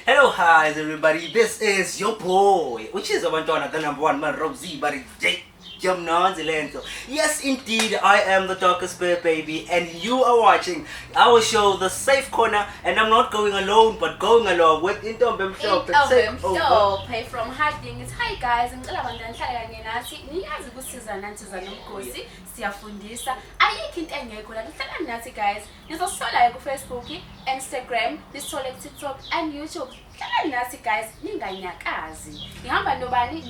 Hello, hi everybody. This is your boy. Which is abantwana the number one man Rob Z bari J. Jamnanzi lento. Yes, indeed, I am the darkest bear baby, and you are watching our show, The Safe Corner, and I'm not going alone, but going along with Intombe Mhlophe. Intombe Take over. Mhlophe from Harding. It's hi guys, ngicela bandla ngihlale kanye nathi. Niyazi ukusiza nanthi zanomgosi, siyafundisa. Ayikho into engekho la. Nihlala nathi guys. Nizosithola-ke kufacebook instagram nisithole kutiktok and youtube hlalani nathi guys ninganyakazi ngihamba nobani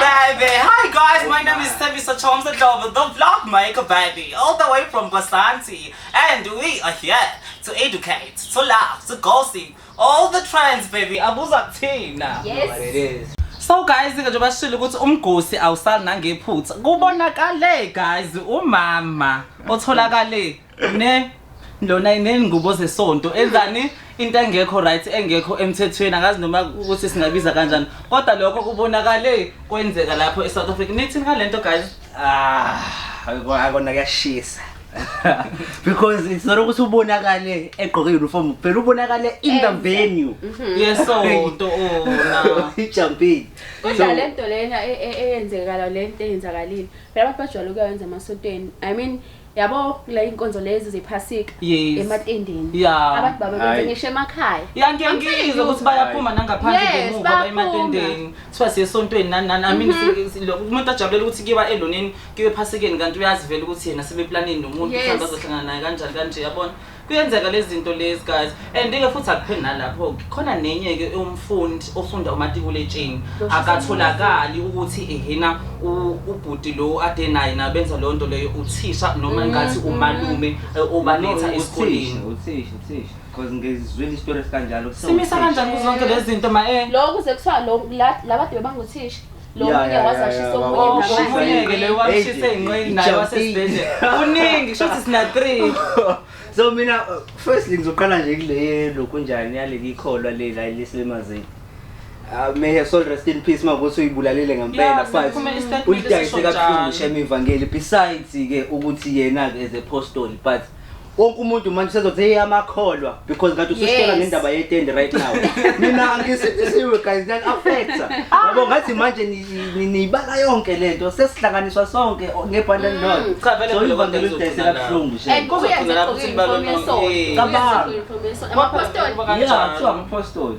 baby. Hi guys, my name is Thabiso Chomza Dlobo, the vlog maker baby, all the way from Basanti. And we are here to educate, to laugh, to gossip, All the trends baby abuza kuthina. Yes. So guys ke nje bashilo ukuthi umgosi awusali nangephutha. Kubonakale guys umama otholakale ne lona inengubo zesonto enzani into engekho right engekho emthethweni akazi noma ukuthi singabiza kanjani kodwa lokho kubonakale kwenzeka lapho eSouth Africa nithi ngalento guys Ah, akona kuyashisa. because it's not ukuthi ubonakale egqoke uniform kuphela ubonakale in the venue mhm. yesonto ona ijumping kodwa le nto lena e, e, eyenzekala le nto eyenzakalile phela abantu bajwayele ukuyenza emasontweni i mean yabo kule inkonzo lezi zephasika Yes. ematendeni Ya. abantu baba benze Hayi. ngisho emakhaya ya I'm telling ngiyangizwa you. ukuthi bayaphuma nangaphandle Yes, ngemuva bayaphuma. baye ematendeni kuthiwa siye esontweni nani nani amini si- si- lo- umuntu ajabulela ukuthi kuyiwa eloneni kuyiwe ephasikeni kanti uyazivela ukuthi yena sebeplanini nomuntu Yes. mhlawumbe azohlangana naye kanjani kanje yabona Kuyenzeka lezinto lezi guys and ke futhi akupheli nalapho ke khona nenye ke umfundi ofunda umatikuletsheni akatholakali ukuthi ehena u- ubhuti lo ade naye nabenza leyo nto leyo uthisha noma ngathi umalume eh, obaletha esikoleni uthisha uthisha because ngizwile isitori esikanjalo simisa kanjani kuzo zonke lezi zinto ma eh lokhu ze kuthiwa lo- la- labade bebanguthisha lo Ya, munye ya, ya, wazashisa ya, omunye baba. ngamanye. Ushisa Ngeke leyo wamshisa ey'nqeni naye wasesibhedlela. Kuningi, shuthi sina three. so mina uh, firstly ngizoqala nje kule yelokhu njani yaleli ikholwa lela eliselimazini Uh, may her soul rest in peace makuthi uyibulalele Yeah, ngempela but sekuphumele i-statement ulidayise esisho kabuhlungu njalo. shem ivangeli besides-ke ukuthi yena-ke as a postoli but wonke umuntu manje sezothi hey amakholwa because ngathi usishela ngendaba yetende right now mina angisithisiwe guys that affects ah. yabo ngathi manje niyibala yonke lento sesihlanganiswa sonke ngebhanda mm. nodwa cha vele vele abantu bezodayisela buhlungu nje and kubuya nje ukuthi balona kababa amaphostoli yeah kuthiwa amaphostoli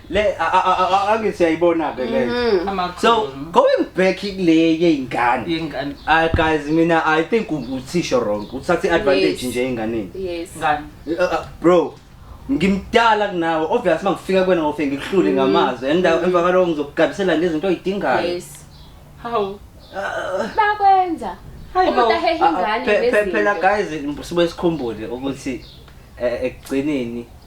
le angithi siyayibona-ke le mhm. so going back kule yey'ngane yey'ngane ah, guys mina i think uthisho wrong uthatha i-advantage nje ey'nganeni yes ah, ah, bro ngimdala kunawe obvious uma ngifika kwena ngofe ngikuhlule mhm. ngamazwi and mhm. emva kwaloko ngizokugabisela ngezinto oyidingayo yes hawu bakwenza umuntu ahehe ingane phela guys sibe sikhumbule ukuthi eh, ekugcineni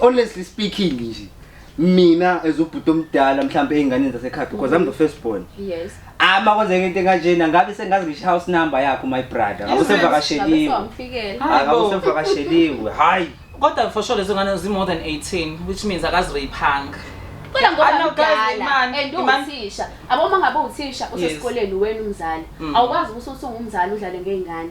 honestly speaking nje mina as ubhuti omdala mhlawumbe ey'nganeni zasekhaya because i'm the first born yes ama kwenzeka into enkanjena ngabe sengazi ngisho house number yakho my brother ngabe usevakasheliwe Ngabe Hayi bo. usevakasheliwe hayi kodwa for sure lezo ngane zi-more than 18 which means akazirayiphanga kodwa ngoba Ana, guys, mdala imani, and imani. uwuthisha aboma ngabe uthisha Yes. usesikoleni wena umzali Mm. awukwazi ukuthi usungumzali udlale ngey'ngane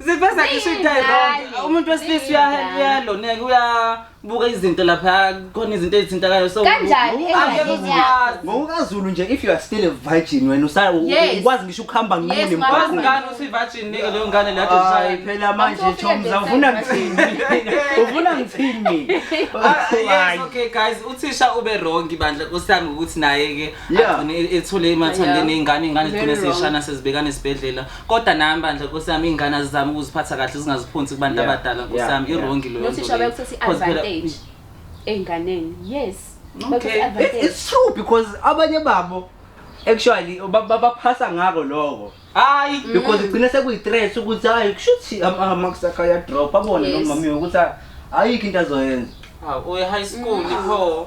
Ziveza ngisho into wrong. Umuntu wesilisa uyahelp uyaloneka uyabuka izinto lapha khona izinto ezithintakayo so Kanjani angeke engane uziyazi. ngokukaZulu nje if you are still a virgin wena usa- u- Yes. ukwazi ngisho ukuhamba Yes, nqunu ngikwazi Wazi emgwaqweni. ngani uthi virgin nike leyo ngane la Hayi design. phela manje Angifuni Thoms ukufika awufuna ngithini ufuna ngithini Ah, yes, Hayi. okay guys uthisha ube wrong bandla kusami ukuthi naye ke Yeah. agcine ethule emathandeni Yeah. ingane ingane Very zigcine wrong. seshana sezibekana esibhedlela kodwa nami bandla nkosi yami iy'ngane azizame ukuziphatha kahle zingaziphonsi kubantu Yeah, abadala nkosi yeah, yami yeah. irongi loyo nothisha nto leyo. bayokuthatha Because phela- i-advantage ey'nganeni yes Okay. Bayokuthatha It, i-advantage. it's true because abanye babo actually ba- ba- baphasa ngako loko hayi Mm. because igcine sekuyi-threat ukuthi hayi kushuthi amakusakha ayadrop abone Yes. nomamiwe ukuthi a- ayikho into azoyenza Hawu, uye high school Mm. pho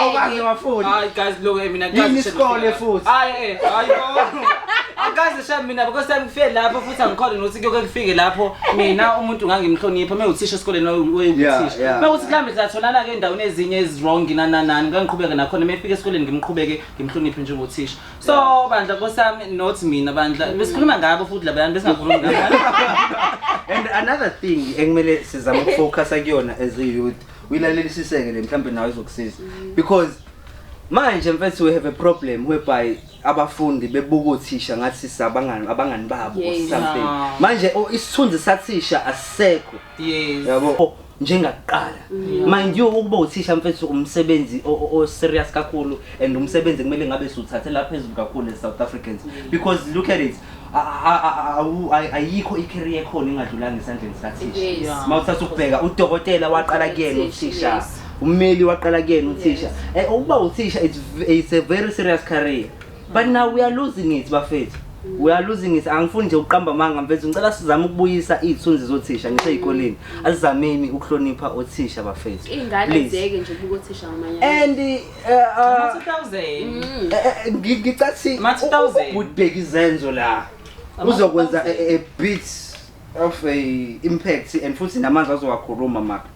awukaze wafunda hayi guys look eh, mina yini isikole futhi hayi eh, hayi akaze shaya mina because time kufike lapho futhi angikhona nokuthi kuyoke kufike lapho mina umuntu ngangimhlonipha uma uthisha esikoleni wayewuthisha uma uthi kulambe satholana ke endaweni ezinye ezirong nananani ngangiqhubeke nakhona uma efika esikoleni ngimqhubeke ngimhloniphe njengothisha so bandla kosami not mina bandla besikhuluma ngabo futhi labayani besingakhulumi ngabo and another thing ekumele sizama ukufocus kuyona as a youth uyilalelisiseke le mhlawumbe nawe izokusiza because manje mfethu we have a problem whereby abafundi bebuka uthisha ngathi sabangani abangani babo or Yes. something Ah. manje o- isithunzi sathisha asisekho Yes. yabo O, njengakuqala mind you ukuba uthisha mfethu umsebenzi o- o- o-serious kakhulu and umsebenzi kumele ngabe siwuthathela phezulu kakhulu as south africans because look at it ayikho i-career ekhona engadlulanga esandleni sikathisha uma uthatha ukubheka udokotela waqala kuyena uthisha ummeli waqala kuyena uthisha eh, ukuba uthisha it's a very serious career but now we are losing it bafethu we are losing it angifuni nje ukuqamba amanga mfethu ngicela sizame ukubuyisa iy'thunzi zothisha ngisey'koleni asizameni ukuhlonipha othisha bafethu ingane zeke nje ukubuka othisha ngamanye and ngicathi ubheki izenzo la uzokwenza a bit of a impact and futhi namanje azowakhuluma maka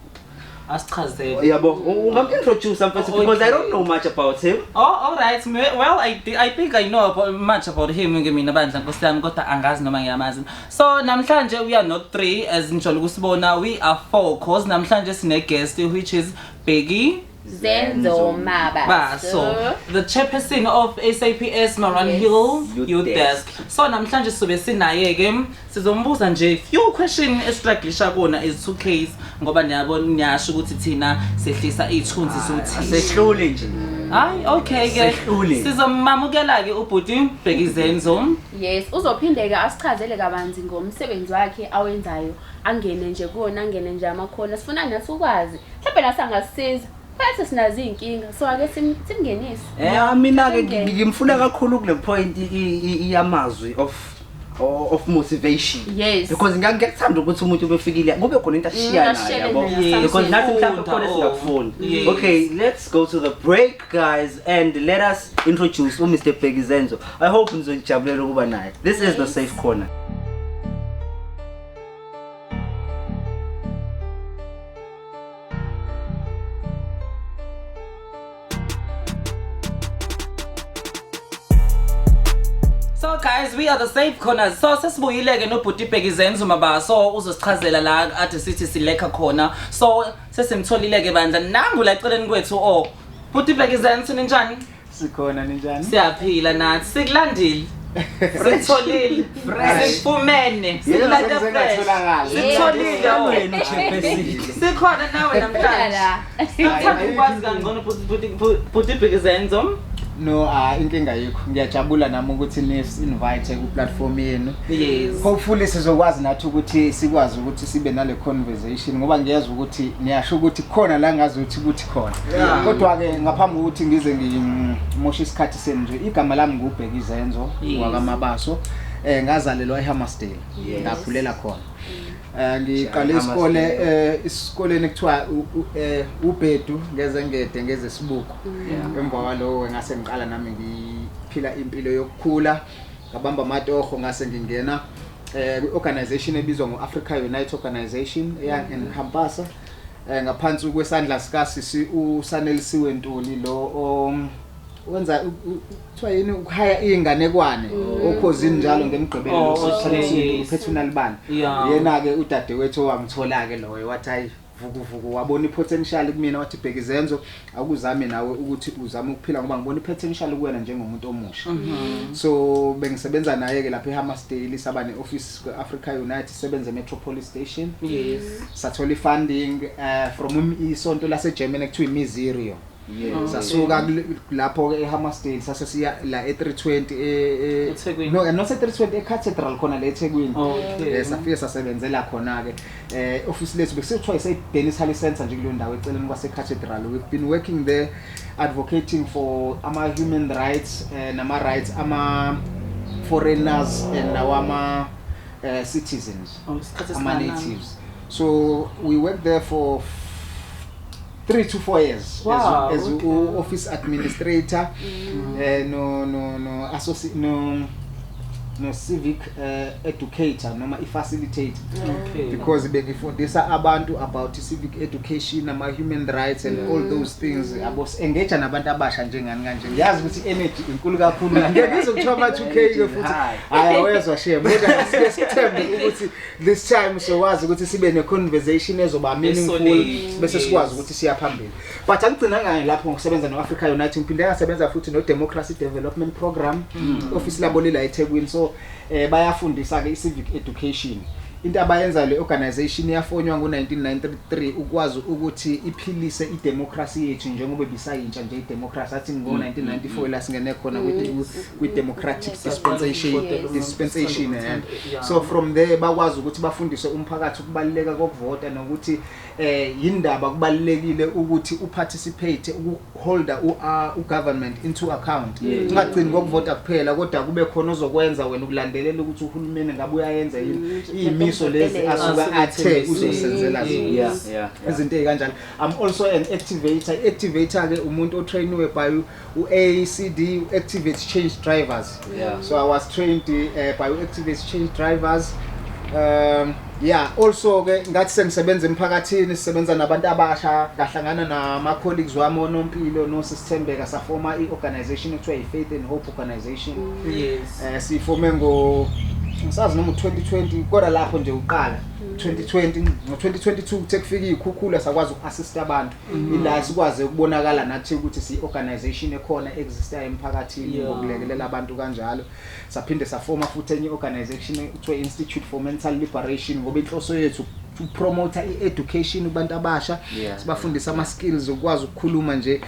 asichazele yabo ungamintroduce mfethu because i don't know much about him oh all right well i i think i know about, much about him ngemina bandla nkosi yami kodwa angazi noma ngiyamazi so namhlanje we are not three as nijolo kusibona we are four cause namhlanje sine guest which is Biggie Zenzo Mabaso, the chairperson of SAPS Maran yes. Hill Youth, Youth Desk. Desk. So namhlanje sizobe sinaye ke sizombuza nje few question estruglisha kona is two case ngoba niyabona niyasho ukuthi thina sehlisa ithunzi sothi ah, sehlule nje. Hayi okay ke sizomamukela ke ubhuti Bhekizenzo. Yes, uzophinde ke asichazele kabanzi ngomsebenzi wakhe awenzayo. Angene nje kuwona angene nje amakhona sifuna nathi ukwazi mhlawumbe nathi angasisiza phela sinazo iy'nkinga so ake sim- simngenise ya mina-ke ngi- ngi- ngimfuna kakhulu kule point i- i- iyamazwi of o- of motivation Yes. because ngiya- ngiyakuthanda ukuthi umuntu ubefikile kube khona into ashiya Mm, nayo ashiyane yabo nayo, because something. nathi mhlawumbe khona Sifunda, oh. singakufunda Yeah. okay let's go to the break guys and let us introduce u Mr Bheki Zenzo i hope nizonijabulela ukuba naye this is the safe corner So guys, we are the safe corners. So sesibuyile ke nobhuti Bheki Zenzo maba. So uzosichazela la athi sithi silekha khona. So Sesimtholile ke bandla nangu la eceleni kwethu o. Oh. Bhuti Bhekizani sini njani? Sikhona ninjani? Siyaphila nathi. Sikulandile. Sitholile. Sifumene. Sikulanda fresh. Sitholile wena uChefesi. Sikhona nawe namhlanje. Ngithanda ukwazi kangcono bhuti bhuti Bhekizani zom. No, ah inkinga yikho. Ngiyajabula nami ukuthi ni invite ku platform yenu. Yes. Hopefully sizokwazi nathi ukuthi sikwazi ukuthi sibe nale conversation ngoba ngiyezwa ukuthi niyasho ukuthi khona la ngazi ukuthi kuthi khona. Kodwa ke ngaphambi kokuthi ngize ngimoshe isikhathi senu nje igama lami ngubheka izenzo Yes. wakamabaso. Eh ngazalelwa eHammersdale. Yes. Ngakhulela khona. Eh ngiqale isikole eh isikoleni kuthiwa u- u- eh ubhedu ngezengede ngezesibuko. Emva kwalowo ngase ngiqala nami ngiphila impilo yokukhula. ngabamba amatoho ngase ngingena eh kwi-organization ebizwa ngo-africa unite organization eyangengihampasa mm -hmm. eh ngaphansi kwesandla sika sisi usanelisiwe Ntuli lo um, wenza kuthiwa yini ukuhaya izinganekwane mm. okhozini njalo ngemgqibelo oh, sisithathe uphethe unalibani yena ke udadewethu owangithola ke loyo wathi hayi Vukuvuku wabona ipotential kumina wathi bheka izenzo awukuzame nawe ukuthi uzame ukuphila ngoba ngibona ipotential kuwena njengomuntu omusha mhm. so bengisebenza naye ke lapha eHammersdale saba neoffice kweAfrica Unite sebenze Metropolis Station yes sathola ifunding uh, from isonto laseGermany kuthiwa iMiserio Yeah, sasuka lapho ke eHammarsdale sase siya la e320 e eThekwini. no no se320 eCathedral khona le eThekwini. Okay. Eh safike sasebenzela khona ke eh office lethu bekusithiwa ise Dennis Halley Center nje kuleyo ndawo eceleni kwase Cathedral. We've been working there advocating for ama human rights eh, nama rights ama foreigners and nawama eh, citizens Oh, isikhathi ama esingakanani? natives. So we worked there for 3 to 4 years wow, as, as okay. u office administrator mm. eh no no no associate no no civic uh, educator noma i facilitator okay. because bengifundisa abantu about civic education ama human rights and mm. all those things mm. abo engage nabantu abasha njengani kanje ngiyazi ukuthi energy inkulu kakhulu ngeke ngizokuthola ama 2k ke futhi hayi awezwa shame kodwa sike sithembe ukuthi this time sokwazi ukuthi sibe ne-conversation ezoba meaningful Esolid, bese yes. sikwazi ukuthi siya phambili but angigcina ngayo lapho ngokusebenza no-africa united ngiphinde ngasebenza futhi no-democracy development program Mm. ofisi labo lila ethekwini so um bayafundisa-ke i-civic education into abayenza le organisation yafonywa ngo-1993 ukwazi ukuthi iphilise idemokhrasi yethu njengoba ibisayintsha nje idemokhrasi athi ngo-1994 la singene khona kwi-2000 kwi-democratic dispensation dispensation eh. so from there bakwazi ukuthi bafundise umphakathi ukubaluleka kokuvota nokuthi eh yindaba kubalulekile ukuthi uparticipate ukuholder uh, ugovernment into account ungagcini ngokuvota kuphela kodwa kube khona ozokwenza wena ukulandelela ukuthi uhulumeni ngabe uyayenza yini mm, iyimiso lezi asuka athe uzosenzela zona izinto ezikanjalo i'm also an activator activator ke umuntu otrainiwe by u-ACD u-Activate Change Drivers yeah. so I was trained uh, by u-Activate Change Drivers um yeah also ke ngathi sengisebenza emphakathini sisebenza nabantu abasha ngahlangana nama colleagues wami onompilo no sisithembeka safoma i-organization ekuthiwa yi-faith and hope organization yes eh sifome ngo ngisazi noma 2020 kodwa lapho nje uqala 2020 ngo 2022 kuthe kufika izikhukhula sakwazi ukuassist abantu Mhm. ila sikwaze ukubonakala nathi ukuthi si-organization ekhona existayo emphakathini Yeah. ngokulekelela abantu kanjalo saphinde safoma futhi enye i-organization kuthiwa institute for mental liberation ngoba inhloso yethu ukupromotha i-education kubantu abasha Yeah. sibafundisa ama-skills okukwazi ukukhuluma nje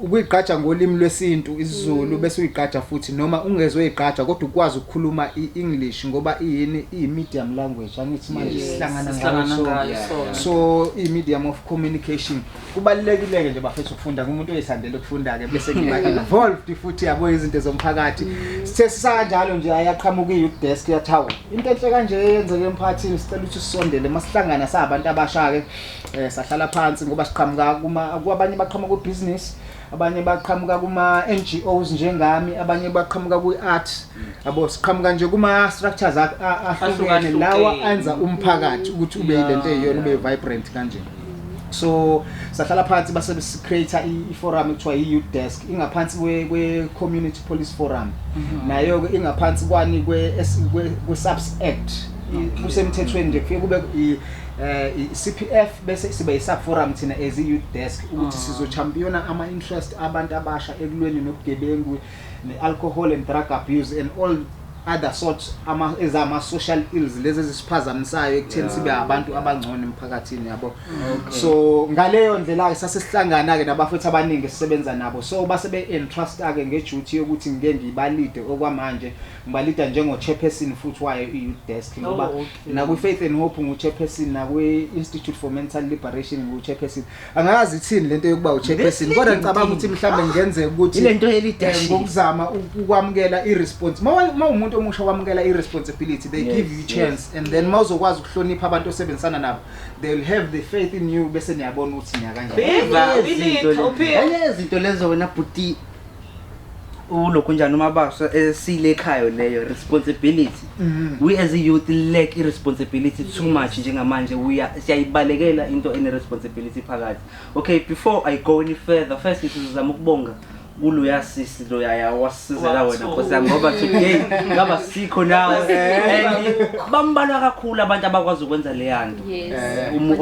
ukuyigqaja ngolimi lwesintu Mm. isizulu bese uyigqaja futhi noma ungezoyigqaja kodwa ukwazi ukukhuluma i-english ngoba iyini iyi-medium language sangithi manje Yes. sihlangana Sihlangana ngayo ngayo sonke. sonke. so i-medium of communication kubalulekile-ke nje bafethu ukufunda kumuntu oyithandela ukufunda-ke bese ngiba involved futhi yabo izinto zomphakathi sithe sisanjalo nje ayaqhamuka i-youth desk yathi hawu into enhle kanje eyenzeke emphakathini sicela ukuthi sisondele uma sihlangana sabantu abasha-ke um sahlala phansi ngoba siqhamuka kuma- kwabanye baqhamuka kwibhizinisi abanye baqhamuka kuma-ngos njengami abanye baqhamuka kwi-art yabo siqhamuka nje kuma structures a- a- ahlukene Ahlukahlukene. lawa enza umphakathi ukuthi ube Yeah, lento eyiyona ube yeah. vibrant kanje so sahlala phansi base create i forum ekuthiwa i youth desk ingaphansi kwe kwe community police forum nayo ke ingaphansi kwani kwe S- kwe kwe subs act I- kusemthethweni nje kufike kube i eh, i- CPF bese sibe isub forum thina as i youth desk ukuthi sizochampiyona ama interest abantu abasha ekulweni nobugebengu ne-alcohol and drug abuse and all other sorts ama ezama social ills lezi ezisiphazamisayo ekutheni yeah. sibe abantu abangcono emphakathini yabo okay. so ngaleyo ndlela ke sasesihlangana ke nabafethu abaningi sisebenza nabo so base be entrust ke ngeduty yokuthi ngike ngibalide okwamanje ngibalida njengo chairperson futhi wayo i desk ngoba oh, okay. na ku faith and hope ngu chairperson na ku institute for mental liberation ngu chairperson angazi ithini lento yokuba uchairperson kodwa ngicabanga ukuthi mhlawumbe ngenzeka ukuthi ilento yelidash eh, ngokuzama ukwamukela iresponse uma umuntu omusha wamukela iresponsibility they yes, give you chance yes. and then mawuzokwazi ukuhlonipha abantu osebenzisana nabo they will have the faith in you bese niyabona ukuthi niya kanjani izinto lezo wena bhuti ulokhu njani uma baso esile ekhaya leyo responsibility mm. we as a youth lack i responsibility too much njengamanje we are siyayibalekela into ene responsibility phakathi okay before i go any further first sizama ukubonga kulo yasisi lo yaya wasizela wena nkosi yami ngoba today ngaba sikho nawe and bambalwa kakhulu abantu abakwazi ukwenza leyanto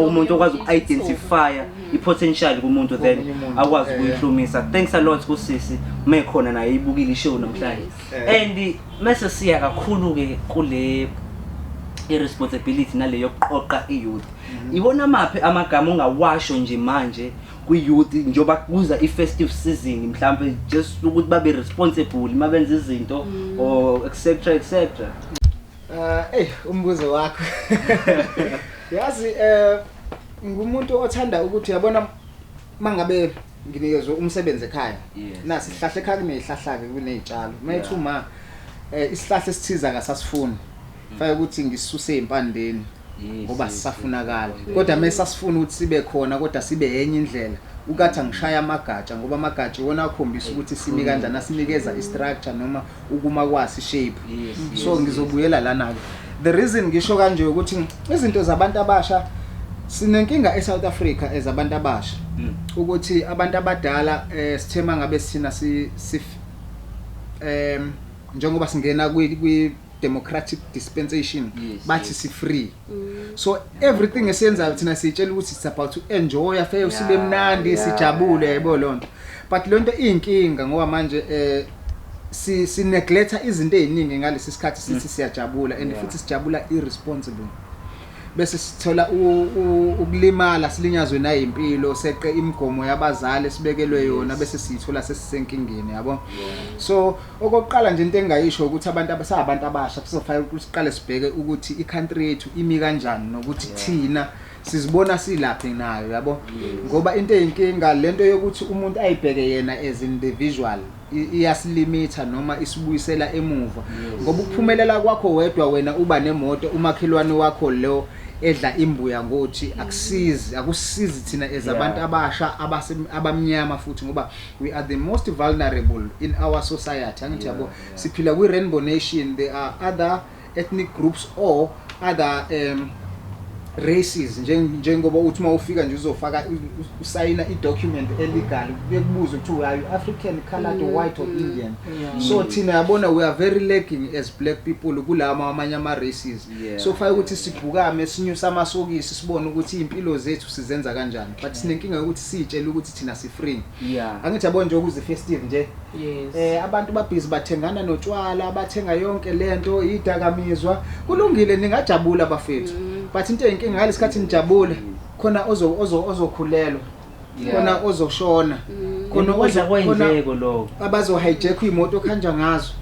umuntu okwazi uku identify i-potential kumuntu then Komunye umuntu, akwazi eh, ukuyihlomisa thanks a lot kusisi uma ekhona naye ibukile ishow namhlanje Eh. and mese siya kakhulu-ke kule i-responsibility nale yokuqoqa i-youth Mhm. iwona maphi amagama ongawasho nje manje kwi-youth njengoba kuza i-festive season mhlawumbe just ukuthi babe responsible uma benza izinto Mm. or etc etc Eh, ey umbuzo wakho. Yazi eh ngumuntu othanda ukuthi yabona mangabe nginikezwe umsebenzi ekhaya Yes. nasi sihlahla ekhaya kunezihlahlake kunezitshalo mayethu Yeah. ma eh, isihlahla esithiza ngasasifuni fake ukuthi ngisuse impandeni Yes, ngoba yes, sisafunakala yes. kodwa mesasifuna ukuthi sibe khona kodwa sibe enye indlela ukathi angishaya amagatsha ngoba amagatsha iwona akhombisa ukuthi simi kanjani asinikeza i-structure noma ukuma kwasi shape yes, yes, so ngizobuyela yes. lana ke the reason ngisho kanje ukuthi izinto zabantu abasha sinenkinga eSouth Africa ezabantu abasha mm. ukuthi abantu abadala eh sithema ngabe sina si em njengoba singena kwi democratic dispensation yes, bathi yes. si free so everything esiyenzayo thina siyitshela ukuthi it's about to enjoy afeye usibe mnandi sijabule yebo lonto but lonto inkinga ngoba manje eh si si neglect izinto eziningi ngalesi sikhathi sithi mm. siyajabula and futhi sijabula irresponsible bese sithola ukulimala silinyazwe nayimpilo seqe imigomo yabazali sibekelwe yona bese siyithola sesisenkingeni yabo so Okokuqala nje into engingayisho ukuthi abantu abasabantu abasha kuzofanele ukuthi siqale sibheke ukuthi i-country yethu imi kanjani nokuthi thina sizibona silaphi nayo yabo ngoba into eyinkinga lento yokuthi umuntu ayibheke yena as individual i- iyasilimitha noma isibuyisela emuva ngoba ukuphumelela kwakho wedwa wena uba nemoto umakhelwane wakho lo edla imbuya ngothi akusizi akusizi thina as abantu abasha abase- abamnyama futhi ngoba We are the most vulnerable in our society angithi yabo yeah, yeah. siphila kwi rainbow nation there are other ethnic groups or other um, races njengoba uthi uma ufika nje uzofaka usayina i-document elegal bekubuzwe kuthiwa we are you african colored mm, white or mm, indian yeah. so thina yabona we are very lacking as black people kulawa amanye ama-races yeah. so fake ukuthi sibhukame sinyuse amasokisi sibone ukuthi iy'mpilo zethu sizenza kanjani but sinenkinga yokuthi siyitshele ukuthi thina si free yeah angithi yabo nje ukuze festive nje yes eh abantu babhizi bathengana notshwala bathenga yonke lento idakamizwa kulungile ningajabula bafethu mm. but into enkinga ngalesikhathi nijabule khona ozo ozo ozokhulelwa khona ozoshona mm. khona oza kwenzeko lokho abazo hijack imoto khanja ngazo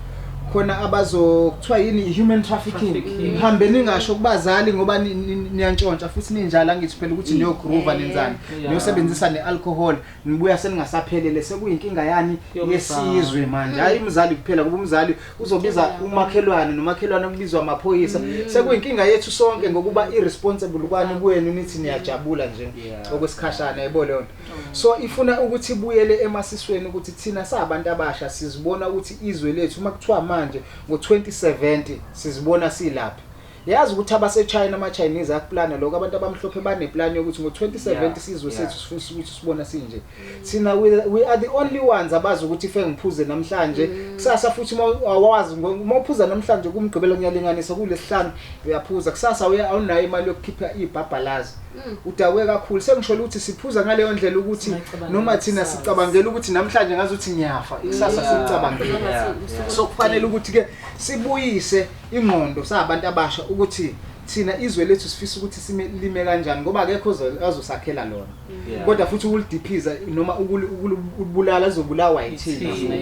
khona abazokuthiwa yini human trafficking hambe ningasho kubazali ngoba niyantshontsha futhi ninjalo angithi phela ukuthi niyogroova nenzani Yeah. niyosebenzisa ne-alcohol nibuya seningasaphelele sekuyinkinga yani Yomzali. yesizwe manje hhayi umzali kuphela kuba umzali uzobiza umakhelwane nomakhelwane kubizwa amaphoyisa sekuyinkinga yethu sonke ngokuba i-responsible kwani kwenu nithi niyajabula nje Yeah. okwesikhashana yebo leyo nto so ifuna ukuthi ibuyele emasisweni ukuthi thina sabantu abasha sizibona ukuthi izwe lethu uma kuthiwa manje ngo-2070 sizibona silaphi Yazi ukuthi abase China ama Chinese akuplana lokho abantu abamhlophe bane plan yokuthi ngo 2070 sizwe sethu sifisa ukuthi sibona sinje. Sina we are the only ones abazi ukuthi ife ngiphuze namhlanje mm. kusasa futhi awazi uma uphuza namhlanje kumgqibelo ngiyalinganisa kulesihlanu uyaphuza kusasa awunayo imali yokukhipha ibhabhalazi. Mm. Udakwe kakhulu sengisho ukuthi siphuza ngaleyo ndlela ukuthi noma thina sicabangela ukuthi namhlanje ngazi ukuthi ngiyafa ikusasa sicabangela. So kufanele ukuthi ke sibuyise ingqondo sabantu abasha ukuthi thina izwe lethu sifisa ukuthi silime kanjani ngoba akekho azosakhela lona yeah. kodwa futhi ukulidiphiza noma ukulibulala zobulawa yithina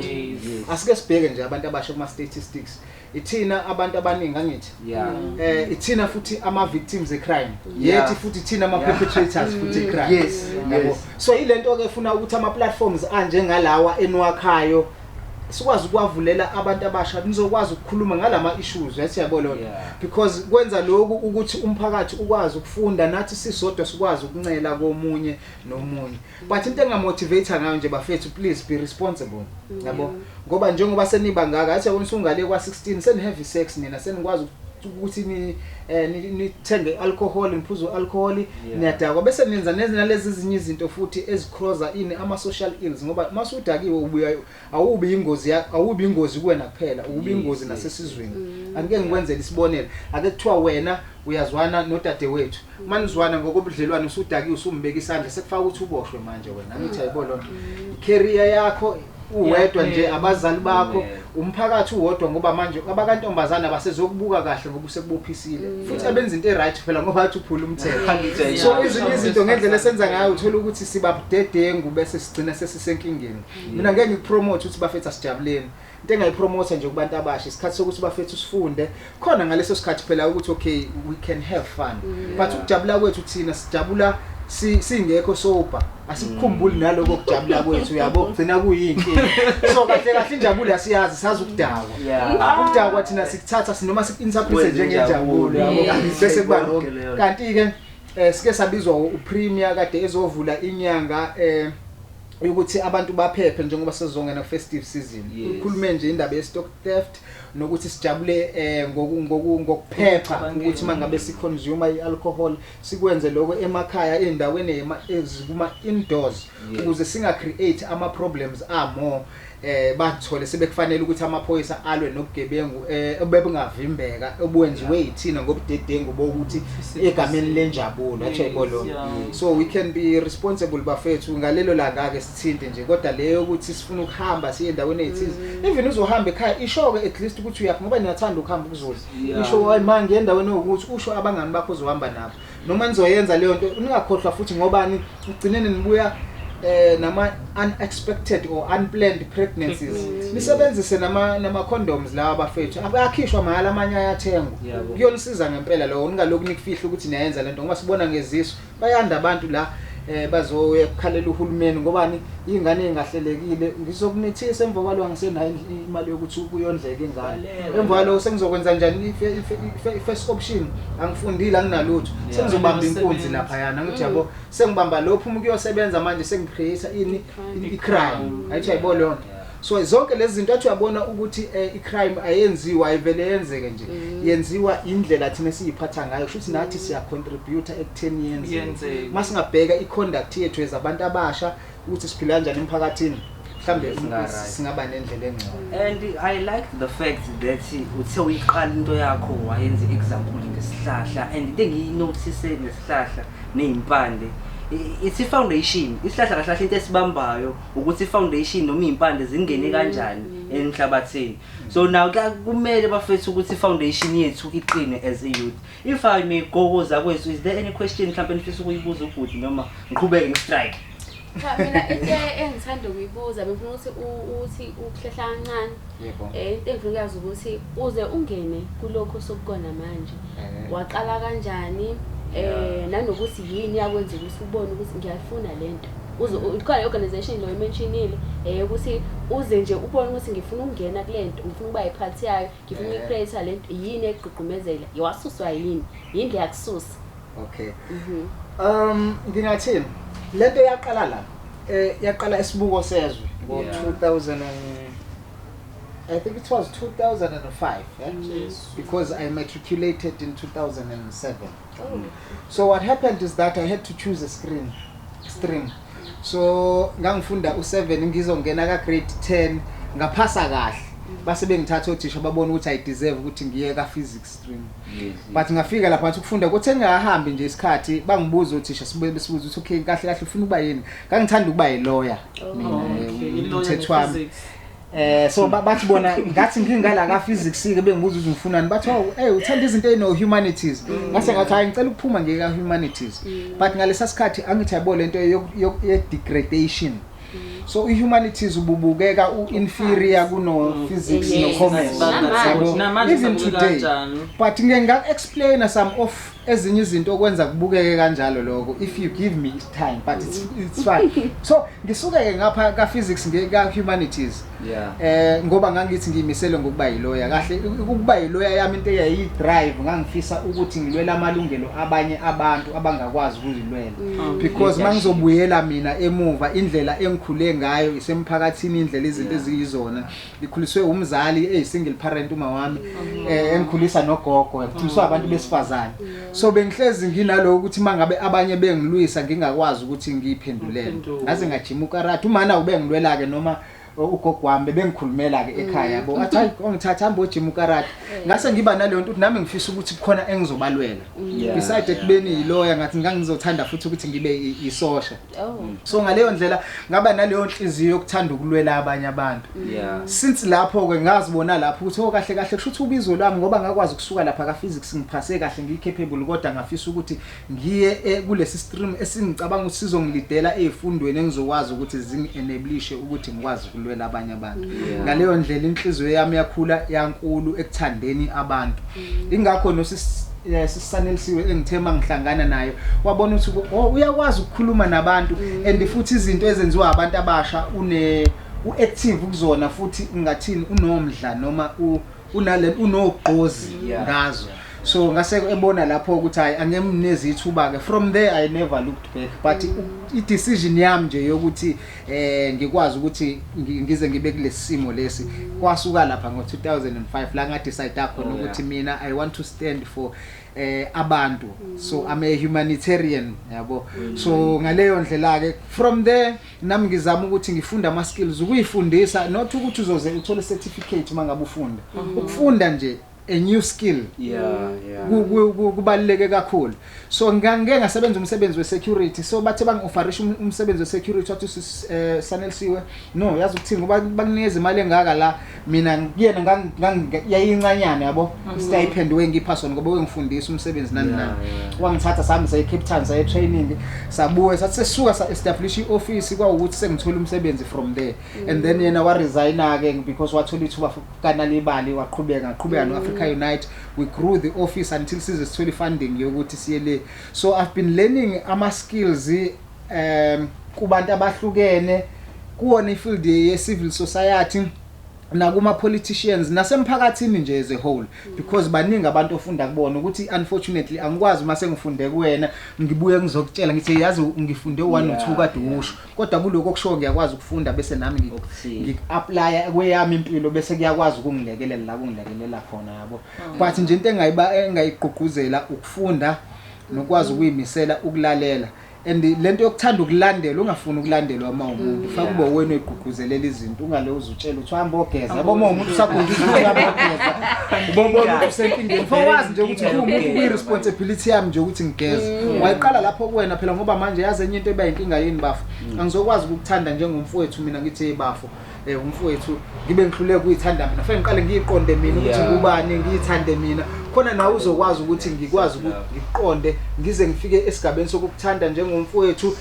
asike sibheke nje abantu abasha kuma statistics ithina abantu abaningi angithi mm. eh ithina futhi ama victims e crime yethi futhi ithina ama perpetrators futhi e crime yes so ilento ke funa ukuthi ama platforms anje ngalawa enwakhayo sikwazi ukuwavulela abantu abasha nizokwazi ukukhuluma ngalama issues yes yabo lona yeah. because kwenza lokhu ukuthi umphakathi ukwazi ukufunda nathi sisodwa sikwazi ukuncela komunye nomunye but into engamotivate ngayo nje bafethu please be responsible yabo yeah. ngoba njengoba seniba ngaka athi yabona usungale kwa 16 seni heavy sex nina senikwazi ukuthi ni eh nithenge alcohol niphuza alcohol yeah. niyadakwa bese nenza nezina lezi zinye izinto futhi ezicroza ini ama social ills ngoba masudakiwe ubuya awubi ingozi awubi ingozi kuwena kuphela ubi ingozi yes, nasesizweni mm. angike ngikwenzele isibonelo ake kuthiwa wena uyazwana nodade wethu mm. manizwana ngokobudlelwane usudakiwe usumbeka isandla sekufaka ukuthi uboshwe manje wena angithi mm. ayibo lonto mm. career yakho uwedwa nje Iyaphela. abazali bakho Amen. umphakathi uwodwa ngoba manje abakantombazane abasezokubuka kahle ngoba usekubophisile Mm. futhi Yeah. abenza into e-right phela ngoba athi uphula umthetho Khalida, Yeah. so yeah. ezinye izinto ngendlela esenza ngayo uthola ukuthi sibabudedengu bese sigcina sesisenkingeni Mm. mina ngeke ngipromote ukuthi bafethu asijabuleni into engayipromotha nje kubantu abasha isikhathi sokuthi bafethu sifunde khona ngaleso sikhathi phela ukuthi okay we can have fun mm. but ukujabula kwethu thina sijabula singekho sober asikukhumbuli naloko kujabula kwethu yabo gcina kuyinkinga so kahle kahle injabulo yasiyazi sazi ukudakwa ah, ukudakwa thina sikuthatha sinoma siku-interprete njengenjabulo yabo bese kuba lonke kanti-ke um eh, sike sabizwa upremier kade ezovula inyanga um ukuthi abantu baphephe njengoba sezongena festive season ukhulume nje indaba ye-stock theft nokuthi sijabule eh ngoku ngoku ngokuphepha ukuthi mangabe si consume i alcohol sikwenze lokho emakhaya endaweni ezikuma indoors ukuze singa create ama problems a more eh bathole sebekufanele ukuthi amaphoyisa alwe nobugebengu eh bebengavimbeka obuwenziwe yithina ngobudedengu bokuthi egameni lenjabulo athi yayibolo so we can be responsible bafethu ngalelo langa ke sithinte nje kodwa le yokuthi sifuna ukuhamba siye endaweni eyithize mm. even uzohamba ekhaya isho-ke at least ukuthi uyaphi ngoba niyathanda ukuhamba ukuzula isho hayi ma ngiye endaweni ewukuthi usho abangani bakho uzohamba nabo noma nizoyenza leyo nto ningakhohlwa futhi ngobani ugcineni nibuya eh nama unexpected or unplanned pregnancies mm. nisebenzise nama nama condoms lawa bafethu abakhishwa mahala amanye ayathengwa kuyonisiza ngempela lowo ningalokhu nikufihla ukuthi niyayenza lento ngoba sibona ngezisu bayanda abantu la eh bazoya kukhalela uhulumeni ngobani ingane engahlelekile ngizokumithisa emva kwalo angisenayo imali yokuthi kuyondleke ingane emva kwalo sengizokwenza njani i first option angifundile anginalutho sengizobamba inkunzi lapha yana ngithi yabo mm. sengibamba lophu umuntu uyosebenza manje sengicreate ini i crime ayithi ayibo lonto So zonke lezi zinto athi uyabona ukuthi eh, i-crime ayenziwa ayivele yenzeke nje mm. yenziwa indlela thina siyiphatha ngayo shuthi nathi siya contribute ekutheni yenzeke uma singabheka i-conduct yethu as abantu abasha ukuthi siphila kanjani emphakathini mhlawumbe singaba nendlela engcono and i like the fact that uthe uyiqala into yakho wayenza i-example ngesihlahla and into engiyinothise ngesihlahla neyimpande it's i-foundation isihlahla kahlahle into esibambayo ukuthi i-foundation noma iy'mpande zingene kanjani emhlabathini so naw kumele bafethu ukuthi i-foundation yethu iqine as a youth if i may go koza kwethu is there any question mhlawumpe nifisa ukuyibuza ubhuti noma ngiqhubeke ngistrike cha mina into engithanda ukuyibuza bengifuna ukuthi uthi ukuhlehla kancane um into engifuna ukuyazi ukuthi uze ungene kulokhu osokukona manje eh. waqala kanjani um nanokuthi yini yakwenza ukuthi ubone ukuthi ngiyayifuna le nto Ukhona i-organization lo imentionile eh ukuthi uze nje ubone ukuthi ngifuna ukungena kule nto ngifuna ukuba yiphathi yayo ngifuna eh. ukuyicreate le nto yini egqugqumezela yewasuswa yini yini le yakususa okay mhm. um ngingathini le nto yaqala la eh yaqala isibuko sezwe ngo-2000 I think it was 2005 eh? yes. because I matriculated in 2007 so what happened is that i had to choose a screen stream so ngangifunda u7 ngizongena ka grade 10 ngaphasa kahle base bengithatha othisha babona ukuthi i deserve ukuthi ngiye ka physics stream but ngafika lapha ngathi ukufunda kuthi engahambi nje isikhathi bangibuza othisha sibuye besibuza ukuthi okay kahle kahle ufuna ukuba yini ngangithanda ukuba yi lawyer mina umthethwami Eh so bathi bona ngathi ngingala ka physics ke bengibuza ukuthi ngifunani bathi oh hey uthanda izinto ezino humanities mm. ngase ngathi hayi ngicela ukuphuma nje ka humanities mm. but ngalesa sikhathi angithi yabo lento ye degradation mm. so i humanities ububukeka u inferior kuno physics no commerce even today but ngeke nga explain some of ezinye izinto okwenza kubukeke kanjalo lokho if you give me time but it's, it's fun so ngisuke-ke ngapha ka-physics ka-humanities yeah. eh ngoba ngangithi ngiyimisele ngokuba yiloya kahle ukuba yiloya yami into eyayiyi-drive ngangifisa ukuthi ngilwele amalungelo abanye abantu abangakwazi ukuzilwela mm. oh, because uma ngizobuyela mina emuva indlela engikhule ngayo isemphakathini indlela izinto eziyizona ngikhuliswe umzali eyi single parent umawami mhm. eh engikhulisa nogogo ngikhuliswa mhm. abantu besifazane so bengihlezi nginalowo ukuthi mangabe abanye bengilwisa ngingakwazi ukuthi ngiyiphendulele ngaze ngajima ukarate umana ubengilwela ke noma ugogo wami bengikhulumela ke ekhaya bo athi hayi ongithatha hambo gym ukarate eh. ngase ngiba naleyo nto ukuthi nami ngifisa ukuthi kukhona engizobalwela mm. besides ekubeni yiloya ngathi ngangizothanda futhi ukuthi ngibe isosha Oh. Mm. so ngaleyo ndlela ngaba naleyo nhliziyo yokuthanda ukulwela abanye abantu mm. since lapho ke ngazibona lapho ukuthi oh kahle kahle kusho ukuthi ubizo lami ngoba ngakwazi ukusuka lapha ka physics ngiphase kahle ngiyicapable kodwa ngafisa ukuthi ngiye eh, kulesi stream esingicabanga ukuthi sizongilidela ezifundweni engizokwazi ukuthi zingienablishe ukuthi ngikwazi ukulwela abanye abantu ngaleyo ndlela inhliziyo yami yakhula yankulu ekuthandeni abantu ingakho nosisanelisiwe eh, engithe uma ngihlangana naye wabona ukuthi oh, uyakwazi ukukhuluma nabantu mm. and futhi izinto ezenziwa abantu abasha une uactive kuzona futhi ngathini unomdla noma unale unogqozi ngazo so ngase ebona lapho ukuthi hayi angemnezithuba ke from there i never looked back but mm. i decision yami nje yokuthi eh ngikwazi ukuthi ngi- ngize ngibe kulesimo lesi kwasuka lapha ngo 2005 la nga decide khona Oh, yeah. ukuthi mina i want to stand for eh abantu so i'm a humanitarian yabo Mm. so ngaleyo ndlela ke from there nami ngizama ukuthi ngifunde ama skills ukuyifundisa not ukuthi uzoze uthole certificate mangabe ufunda Mhm. ukufunda nje a new skill yeah yeah kubaluleke kakhulu so ngangike ngasebenza umsebenzi wesecurity so bathe bangi-offerisha um-, umsebenzi wesecurity wathi eh, sanelisiwe no yazi ukuthini ngoba bakunikeza imali engaka la mina kuyena yayincanyana yabo mhm. istipend wengipha sona ngoba wengifundisa umsebenzi nani nani wangithatha sami saye-cape town saye-training sabuye sathi sesuka sa-establisha i-ofisi kwawukuthi sengithole umsebenzi from there and then yena waresigna-ke because wathola ithuba fukanala imali waqhubeka ngaqhubeka no-africa mm. unite we grew the office until size sithole i-funding yokuthi siye le so i've been learning ama-skills um kubantu abahlukene kuwona ifield ye-civil society nakuma-politicians nasemphakathini nje as a whole because baningi abantu ofunda kubona ukuthi unfortunately angikwazi uma sengifunde kuwena ngibuye ngizokutshela ngithi yazi ngifunde one or two kade usho kodwa kuloko okushoyo ngiyakwazi ukufunda bese nami ngi- Okuthile. ngi-aplaya kweyami impilo bese kuyakwazi ukungilekelela la kungilekelela khona yabo but nje into engayiba- engayigqugquzela ukufunda nokwazi ukuyimisela ukulalela and le nto yokuthanda ukulandela ungafuni ukulandelwa uma umuntu fake kube uwena oyigqugquzelela izinto ungale uzi- Utshela uthi hamba ogeza. Yabo uma umuntu usagungile uthi hamba ogeza. Ubona umuntu usenkingeni. Ufo wazi nje ukuthi kuwumuntu kuyi responsibility yami nje ukuthi ngigeze. Wayiqala lapho kuwena phela ngoba manje yazi enye into eba inkinga yini bafo. Angizokwazi ukukuthanda njengomfowethu mina ngithi hey bafo. Eh umfowethu ngibe ngihluleke kuyithanda mina. Fanele ngiqale ngiyiqonde mina ukuthi Yeah. ngubani ngiyithande mina. Khona nawe uzokwazi ukuthi ngikwazi ukuthi ngiqonde ngize ngifike esigabeni sokukuthanda njengomfowethu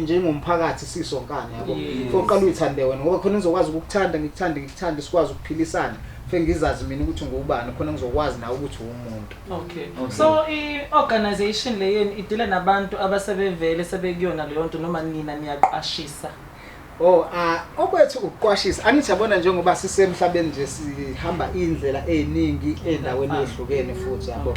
njengomphakathi sisonkana yabo oqala uyithande wena ngoba khona ngizokwazi ukukuthanda ngikuthande ngikuthande sikwazi ukuphilisana fe ngizazi mina ukuthi ngubani khona ngizokwazi nawe ukuthi uwumuntu okay so i-organization le yenu idile nabantu abasebevele sebekuyona leyo nto noma nina niyaqashisa Oh ah okwethu ukuqwashisa angithi yabona njengoba sisemhlabeni nje sihamba indlela eziningi endaweni ezihlukene futhi yabo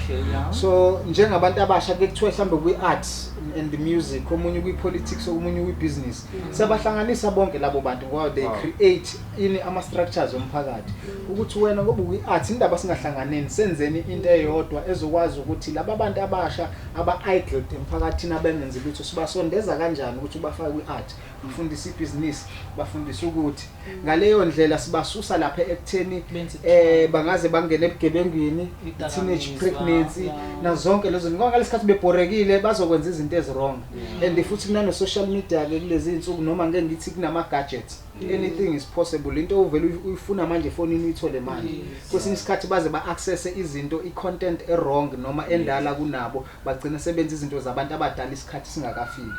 so njengabantu abasha ke kuthiwa mhlambe kwi arts and the music omunye kwi politics omunye kwi business mm. sabahlanganisa bonke labo bantu ngoba they create ini ama structures omphakathi ukuthi wena ngoba kwi arts indaba singahlanganeni senzeni into eyodwa ezokwazi ukuthi laba bantu abasha aba idle emphakathini abengenzi lutho sibasondeza kanjani ukuthi ubafake kwi art Bafundisa ibhizinisi, bafundisa ukuthi ngaleyo ndlela sibasusa lapha ekutheni eh bangaze bangene ebugebengwini, teenage pregnancy nazo zonke lezo zinto. Ngoba ngalesikhathi bebhorekile bazokwenza izinto eziwrong. And futhi kunano social media ke kulezi insuku noma ngeke ngithi kunama gadgets. Anything is possible. Into uvela uy- uyifuna manje efonini uyithole manje. Kwesinye isikhathi baze ba access izinto i content e wrong noma endala kunabo bagcina sebenza izinto zabantu abadala isikhathi singakafiki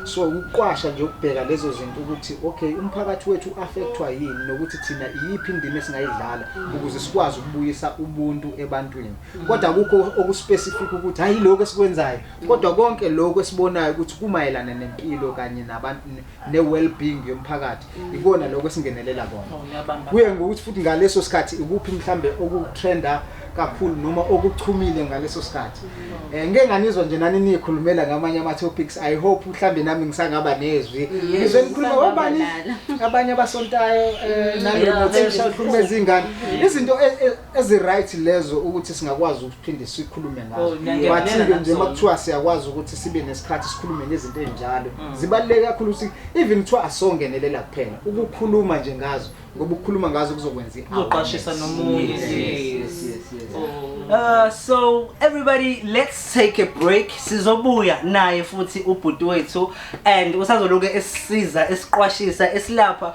so ukuqwasha nje ukubheka lezo zinto ukuthi okay umphakathi wethu uaffectwa yini nokuthi thina iyiphi indima esingayidlala ukuze sikwazi ukubuyisa ubuntu ebantwini kodwa kukho okuspecific ukuthi hayi lokho esikwenzayo kodwa konke lokho esibonayo ukuthi kumayelana nempilo kanye nabantu ne-well-being yomphakathi ikona lokho esingenelela kona oh, kuye ngokuthi futhi ngaleso sikhathi ikuphi mhlambe okutrenda kakhulu noma okuchumile ngaleso sikhathi eh ngeke nganizwa nje nani nikhulumela ngamanye ama topics i hope mhlambe nami ngisangaba nezwi ngizwe nikhuluma ngobani abanye abasontayo eh, mm, nami ngothisha ukhuluma izingane izinto e, e, ezi right lezo ukuthi singakwazi ukuphinde sikhulume ngazo Oh, ngiyavumelana but nje nazo. uma kuthiwa siyakwazi ukuthi sibe nesikhathi sikhulume nezinto ezinjalo Mm. zibaluleke kakhulu ukuthi even kuthiwa asongenelela kuphela ukukhuluma nje ngazo ngoba ukukhuluma ngazo kuzokwenza Kuzoqwashisa i-awareness. nomunye, Yes, yes. yes, yes, yes. Uh, so everybody let's take a break sizobuya naye futhi ubhuti wethu and usazoloke esisiza esiqwashisa esilapha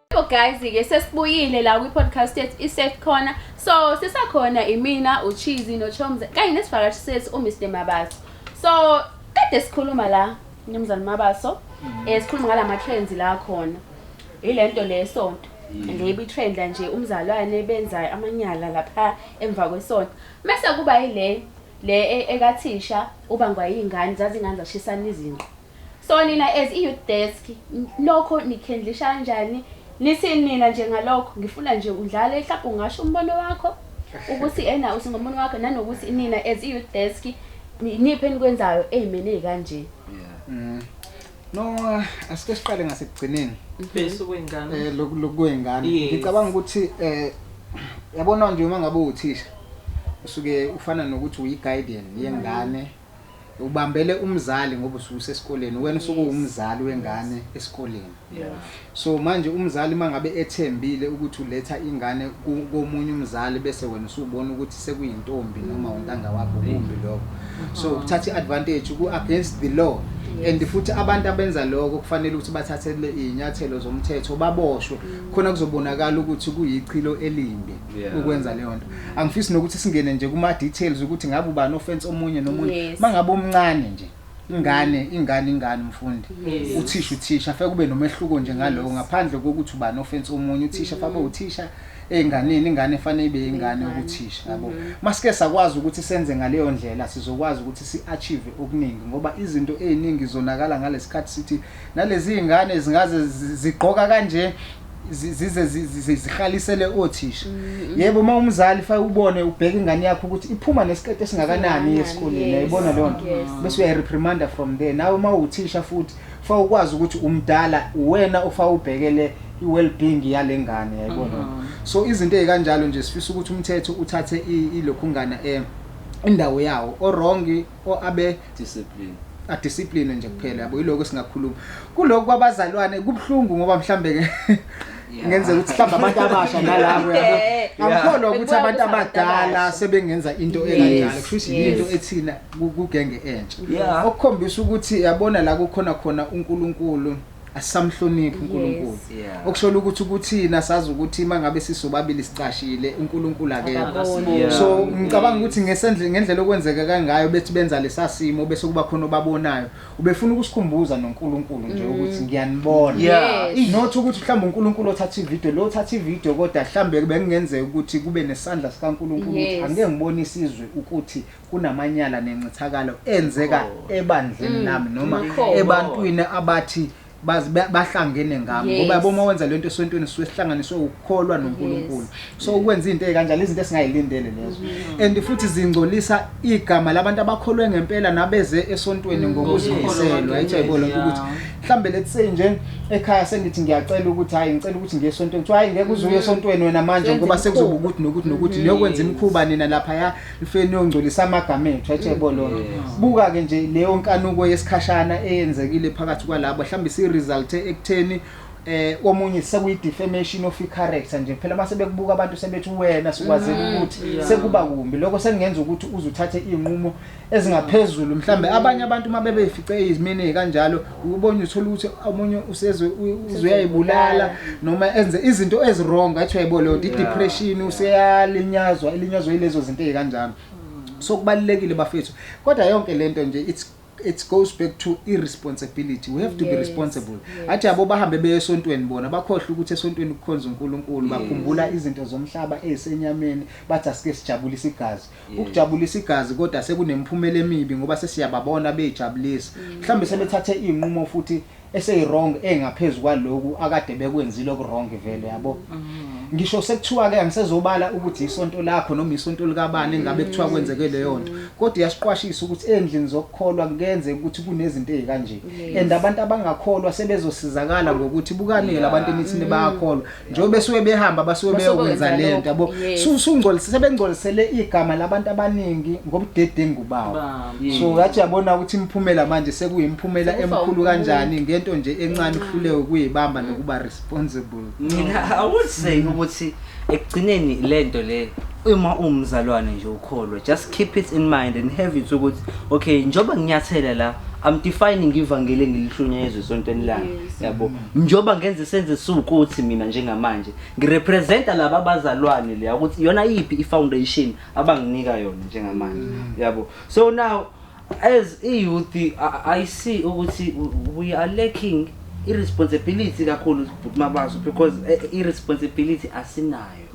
So guys ke sesibuyile la kwi-podcast yethu i-safe corner so sisakhona imina uchizi nochomze kanye nesivakashi sethu umr mabaso so kade sikhuluma la mnumzane mabaso um sikhuluma ngala ma-trends la khona yile nto le sonto lebi trend la nje umzalwane benza amanyala lapha emva kwesonto mese kuba yile le e- ekathisha ubangwa iy'ngane zazingane zashisana izinqo So nina as i-youth desk nokho nikhendlisha kanjani nithini nina nje ngalokho ngifuna nje udlale mhlawumbe ungasho umbono wakho ukuthi ena uthi ngomunye wakho nanokuthi nina as i-youth desk niphi enikwenzayo ey'meni ey'kanje Mm. no uh, asike siqale ngasekugcineni bese kwengane eh loku lokwengane Yes. ngicabanga ukuthi eh yabona nje uma ngabe uthisha usuke ufana nokuthi uyi guardian yengane ubambele umzali ngoba usuke usesikoleni wena usuke uwumzali wengane esikoleni so manje umzali mangabe ethembile ukuthi uletha ingane komunye umzali bese wena usubona ukuthi sekuyintombi noma untanga wakho kumbi lokho so uh-huh. ukuthatha iadvantage ku against the law and futhi abantu abenza lokho kufanele ukuthi bathathele izinyathelo zomthetho baboshwe khona kuzobonakala ukuthi kuyichilo elimbi yeah. ukwenza leyo nto angifisi nokuthi singene nje kuma-details ukuthi ngabe ubani ofense omunye nomunye yes. ma ngabe omncane nje ingane ingane ingane umfundi yes. uthisha uthisha feke kube nomehluko nje ngalowo ngaphandle kokuthi ubani ofense omunye uthisha mm. fabe uthisha enganeni ingane efanele ibe ingane ukuthisha yabo mm-hmm. masike sakwazi ukuthi senze ngaleyo ndlela sizokwazi ukuthi siachieve okuningi ngoba izinto eziningi zonakala ngalesikhathi sithi nalezi ingane zingaze zigqoka kanje zize zihalisele othisha mm-hmm. yebo uma umzali fa ubone ubheke ingane yakho ukuthi iphuma nesikete esingakanani esikoleni yayibona leyo nto bese uyayireprimander from there nawe uma uthisha futhi fa ukwazi ukuthi umdala uwena ofa ubhekele i-well-being yale ngane yayibona mm-hmm. so izinto ezikanjalo nje sifisa ukuthi umthetho uthathe ilokhungana eh indawo yawo o-wrong or abe discipline adiscipline nje kuphela yabo yiloko esingakhuluma kuloko kwabazalwane kubuhlungu ngoba mhlambe ke ngenze ukuthi mhlawumbe abantu abasha nalabo yabo angikholwa ukuthi abantu abadala sebengenza into enganjalo kusho ukuthi yinto ethina kugenge entsha okukhombisa ukuthi yabona la kukhona khona uNkulunkulu asisamhloniphi uNkulunkulu Yes. Yeah. okushola ukuthi ukuthina sazi ukuthi mangabe sisobabili sicashile uNkulunkulu akekho Akaboni. Yeah. so ngicabanga ukuthi ngesendle ngendlela okwenzeka kangayo bethi benza lesasimo bese kuba khona obabonayo ubefuna ukusikhumbuza noNkulunkulu nje ukuthi ngiyanibona Yeah. Yes. not ukuthi mhlawumbe uNkulunkulu othatha ivideo lo othatha ivideo kodwa mhlawumbe bekungenzeka ukuthi kube nesandla sikaNkulunkulu ukuthi Yes. angeke ngibone isizwe ukuthi kunamanyala nencithakalo enzeka ebandleni Mm, lami noma ukholo. ebantwini abathi baz- ba- bahlangene ngami Yes. ngoba yabo uma wenza lento esontweni sisuke sihlanganiswe ukukholwa noNkulunkulu so ukwenza into ekanjalo izinto esingayilindele lezo Mm-hmm. and futhi zingcolisa igama labantu abakholwe ngempela nabeze esontweni Mm, ngokuzimisela Ngokukholwa right yayibona kwakhe, ukuthi yeah. mhlambe let's say nje ekhaya sengithi ngiyacela ukuthi hayi ngicela ukuthi ngiye esontweni kuthiwa hayi ngeke uzuye esontweni wena manje Senze ngoba imikhuba. sekuzoba ukuthi nokuthi nokuthi niyokwenza imikhuba nina lapha ya ifeni yongcolisa amagama ethu etshebo lona buka ke nje leyo nkanuko yesikhashana eyenzekile phakathi kwalabo mhlawumbe si result ekutheni eh omunye sekuyi defamation of character nje phela base bekubuka abantu sebethi wena sikwazela mm, ukuthi sekuba kumbi lokho sekungenza ukuthi uzuthathe izinqumo ezingaphezulu mhlambe abanye abantu mabebefice izimini kanjalo ukubona uthola ukuthi omunye usezwe uzuyayibulala noma enze izinto eziwrong athi uyayibo leyo nto i-depression useyalinyazwa ilinyazwa yilezo zinto ey'kanjalo so kubalulekile bafethu kodwa yonke le nto nje it's it goes back to irresponsibility we have to yes, be responsible yes. athi yabo bahambe beye esontweni bona bakhohle ukuthi esontweni kukhonza uNkulunkulu yes. bakhumbula izinto zomhlaba ezisenyameni bathi asike sijabulise igazi Ukujabulisa igazi kodwa sekunemphumela emibi ngoba sesiyababona beyijabulisa. Mhlawumbe sebethathe izinqumo futhi eseyirong engaphezu kwaloku akade bekwenzile okurong vele yabo. Ngisho sekuthiwa ke angisezobala ukuthi isonto lakho noma isonto likabani engabe kuthiwa kwenzeke leyo nto. Kodwa iyasiqwashisa ukuthi endlini zokukholwa kuyenzeka ukuthi kunezinto ezikanje. And abantu abangakholwa sebezosizakala ngokuthi bukani ke labantu enithini bayakholwa. njengoba besuke behamba basuke Basuke beyokwenza benza lento yabo lokho, yes. Su- sungcolisise sebengcolisele igama labantu abaningi ngobudedengu bawo Bam. so ngathi yabona ukuthi imiphumela manje sekuyimiphumela Sekufa emkhulu umuntu. kanjani ngento nje encane kuhluleke ukuyibamba nokuba responsible Mina I would say ukuthi ekugcineni lento le uma umzalwane nje ukholwa just keep it in mind and have it ukuthi okay njoba nginyathela la I'm defining ivangeli engilihlunyezwe esontweni lami Yes. yabo njengoba ngenze senze siwukuthi mina njengamanje ngirepresenta laba bazalwane leya ukuthi iyona iyiphi i-foundation abanginika yona njengamanje mm. yabo so now as i-youth i see ukuthi we are lacking i-responsibility kakhulu bhuti mabaso because eh, i-responsibility asinayo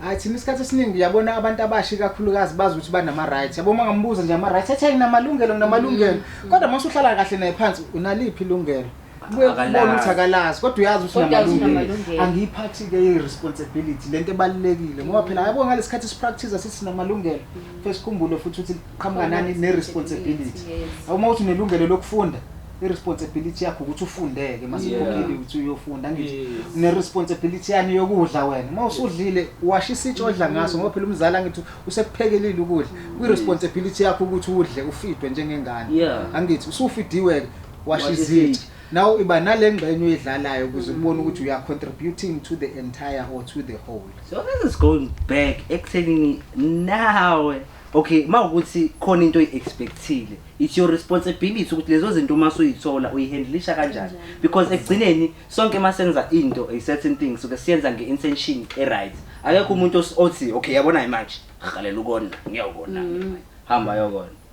hayi thina isikhathi esiningi uyabona abantu abasha ikakhulukazi bazi ukuthi banama-right yabo uma ngambuza nje ama-right athi ayinamalungelo nginamalungelo mm. kodwa uma usuhlala kahle naye phansi unaliphi ilungelo kubuye kubona ukuthi akalazi kodwa uyazi ukuthi unamalungelo angiyiphathi-ke i-responsibility le nto ebalulekile ngoba phela yabo ngale sikhathi sipractice sithi sinamalungelo mm. fe sikhumbule futhi ukuthi liqhamuka nani ne-responsibility uma uthi unelungelo lokufunda i-responsibility yakho ukuthi ufundeke masikhokhile ukuthi uyofunda ngithi ne-responsibility yani yokudla wena uma usudlile washa isitsha odla ngaso ngoba phela umzali angithi usekuphekelile ukudla kwi-responsibility yakho ukuthi udle ufidwe njengengane angithi usufidiwe-ke Wash izitsha. Now iba nalengxenye uyidlalayo ukuze mm. ubone ukuthi uya contributing to the entire or to the whole. So this is going back ekuthenini nawe okay uma ukuthi khona into oyi-expectile it's your responsibility ukuthi lezo zinto uma suyithola uyihandlisha kanjani because ekugcineni sonke uma senza into a certain thing suke siyenza nge-intention e-right akekho umuntu othi okay yabona-ke manje rhalela ukona ngiyawukona mm. hamba yokona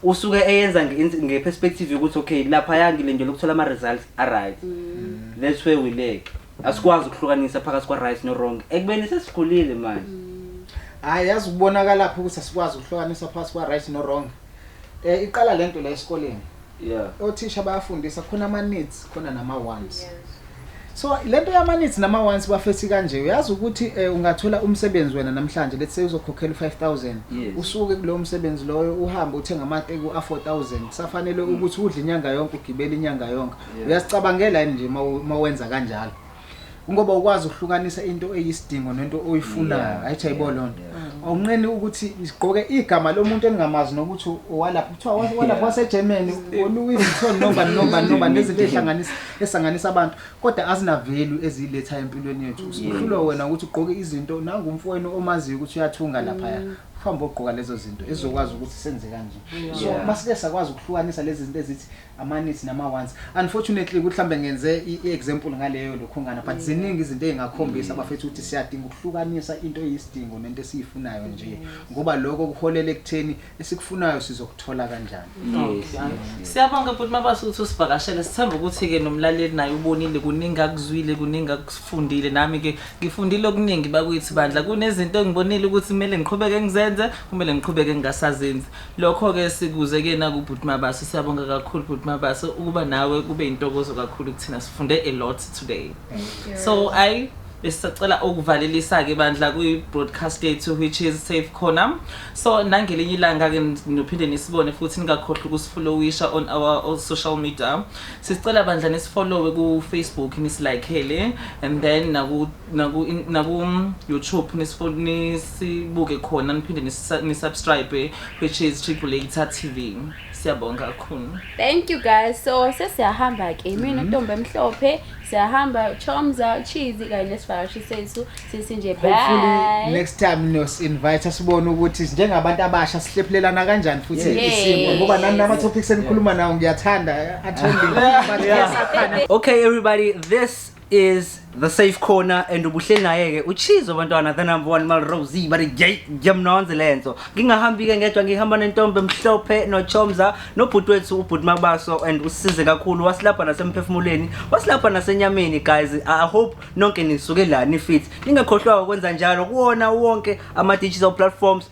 usuke eyenza nge-perspective yokuthi okay laphaya ngilindele ukuthola ama-results a-right that's where we leg asikwazi ukuhlukanisa phakathi kwa-right no-wrong ekubeni sesikhulile manje hhayi yazi ukubonakalaphi ukuthi asikwazi ukuhlukanisa phakathi kwa-right no-wrong um iqala le nto la esikoleni yeah. othisha bayafundisa khona ama-needs khona nama-wants yes. so le nto yama-needs nama-wants bafethi kanje uyazi ukuthi um ungathola umsebenzi wena namhlanje let's say uzokhokhela u-five thousand yes. usuke kulowo msebenzi loyo uhambe uthenga amateku a-four thousand kusafanele mm. ukuthi udle inyanga yonke ugibele inyanga yonke yeah. uyasicabangela yini nje ma wenza kanjalo ngoba ukwazi ukuhlukanisa into eyisidingo nento oyifunayo ayithi ayibo loo nto awunqeni ukuthi sigqoke igama lomuntu engingamazi nokuthi owalapha kuthiwa walapha wasegermany oluwi vuitton nomba nomba nomba nezinto eyihlanganisa esanganisa abantu kodwa azinavelu eziyiletha empilweni yethu usuhlulwa wena ukuthi ugqoke izinto nangumfowenu omaziyo ukuthi uyathunga laphaya mm. uhambe ogqoka lezo zinto ezizokwazi ukuthi senze kanje so masike sakwazi ukuhlukanisa lezi zinto ezithi amanisi nama ones unfortunately ukuthi mhlambe ngenze iexample ngaleyo lokhongana but ziningi izinto ezingakhombisa abafethu ukuthi siyadinga ukuhlukanisa into eyisidingo nento esiyifunayo nje ngoba lokho kuholela ekutheni esikufunayo sizokuthola kanjani siyabonga bhuti mabasuthi usivakashela sithemba ukuthi ke nomlaleli naye ubonile kuningi akuzwile kuningi akufundile nami ke ngifundile okuningi bakuyithi bandla kunezinto engibonile ukuthi kumele ngiqhubeke ngizenze kumele ngiqhubeke ngingasazenzi Lokho-ke sikuze ke nakubhuti Mabaso, siyabonga kakhulu bhuti Mabaso ukuba nawe kube intokozo kakhulu kuthina sifunde a lot today. So I besisacela ukuvalelisa ke bandla kwi broadcast yethu which is safe khona. So nangelinye ilanga ke nophinde nisibone futhi ningakhohlwa ukusifollowisha on our all social media. Sisicela bandla nisifollowe ku Facebook nisilikeele and then naku naku naku YouTube nisifuna nisibuke khona niphinde nisa- nisubscribe which is Triple Eight TV siyabonga kakhulu thank you guys so sesiyahamba ke mina ntombi emhlophe siyahamba chomza cheese kanye nesivakashi sethu sisi nje hopefully bye next time niyosi-invite sibone ukuthi njengabantu abasha sihlephulelana kanjani futhi Yes. isimo ngoba nani nama-topics enikhuluma nawo ngiyathanda athembile okay everybody this is the safe corner and ubuhleli naye-ke uchizo bantwana the number one malrose but jamnonze le nto ngingahambi-ke ngedwa ngihamba nentombi emhlophe nochomza nobhuti wethu ubhuti mabaso and usize kakhulu wasilapha nasemphefumulweni wasilapha nasenyameni guys i hope nonke nisuke la nifit ningakhohlwa ukwenza njalo kuwona wonke ama-digital platforms